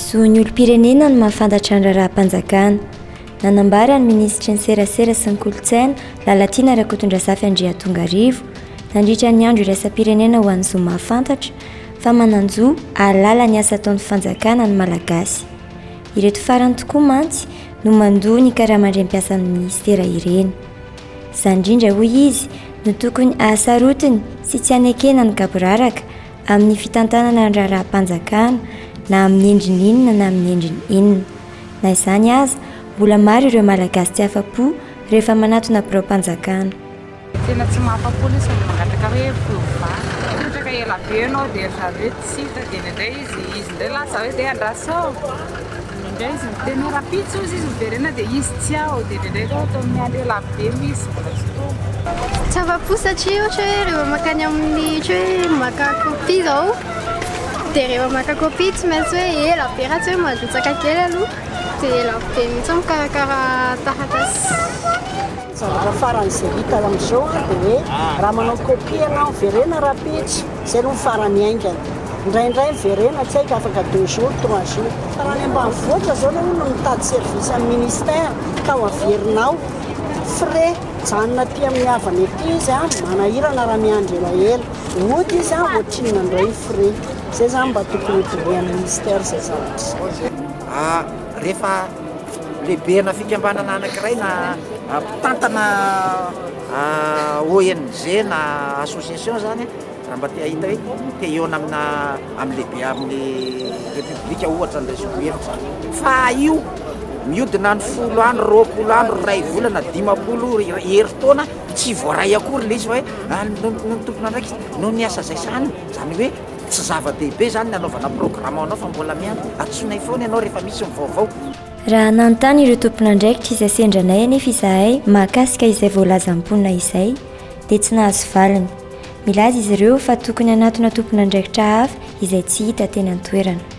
Zon'ny olom-pirenena no mahafantatra ny raharaham-panjakana. Nanambara ny minisitry ny serasera sy ny kolontsaina, Lalatiana Rakotondrazafy Andriatongarivo, nandritra ny andro iraisam-pirenena ho an'ny zo mahafantatra, fa manan-jo hahalala ny asa ataon'ny fanjakana ny Malagasy. Ireto farany tokoa mantsy no mandoa ny karaman-drenim-piasan'ny minisitera ireny. Izany indrindra hoy izy no tokony hahasarotiny sy tsy hanekena ny gaboraraka amin'ny fitantanana ny raharaham-panjakana na amin'ny endriny inona na amin'ny endriny inona. Na izany aza, mbola maro ireo Malagasy tsy afa-po rehefa manatona biraom-panjakana. Tena tsy mahafa-po lesy ny mangataka hoe fiovàna. Mipetraka ela be ianao dia ry zareo hoe tsy hita dia indraindray izy izy indray lasa hoe dia andrasao. Indraindray izy miteny hoe rahampitso hozy izy miverena dia izy tsy ao dia indraindray koa ataony miandry ela be moa izy mbola tsy tonga. Tsy afa-po satria ohatra hoe rehefa mankany amin'ny ohatra hoe maka copie izao dia rehefa maka copie tsy maintsy hoe ela be raha tsy hoe mandrotsaka kely aloha dia ela be mihitsy mikarakara taratasy. Zavatra farany izay hita ao amin'izao dia hoe raha manao copie ianao miverena rahampitso, izay aloha ny farany haingana. Indraindray miverena tsy haiko afaka deux jours, trois jours. Fa raha any ambanivohitra izao ilay olona mitady service amin'ny ministère ka ho averinao frais mijanona aty amin'ny havany aty izy a, manahirana raha miandry elaela. Mody izy a, ohatrinona indray ny frais. Izay izany mba tokony ho dinihan'ny ministère izay zavatra izay. Rehefa lehibena fikambanana anankiray na mpitantana ONG na association zany raha mba te hahita hoe te hihaona amina amin'ny lehibe amin'ny repoblika ohatra ny raisiko hevitra fa io mihodina any folo andro roapolo andro iray volana dimampolo herintaona tsy voaray akory ilay izy fa hoe noho ny tompon'andraikitra noho ny asa izay sahaniny izany hoe Tsy zava-dehibe izany ny hanaovana programa ho anao fa mbola miandry antsoinay foana ianao rehefa misy ny vaovao. Raha nanontany ireo tompon'andraikitra izay sendra anay anefa izahay mahakasika izay voalazan'ny mponina izay dia tsy nahazo valiny. Milaza izy ireo fa tokony hanatona tompon'andraikitra hafa izay tsy hita teny an-toerana.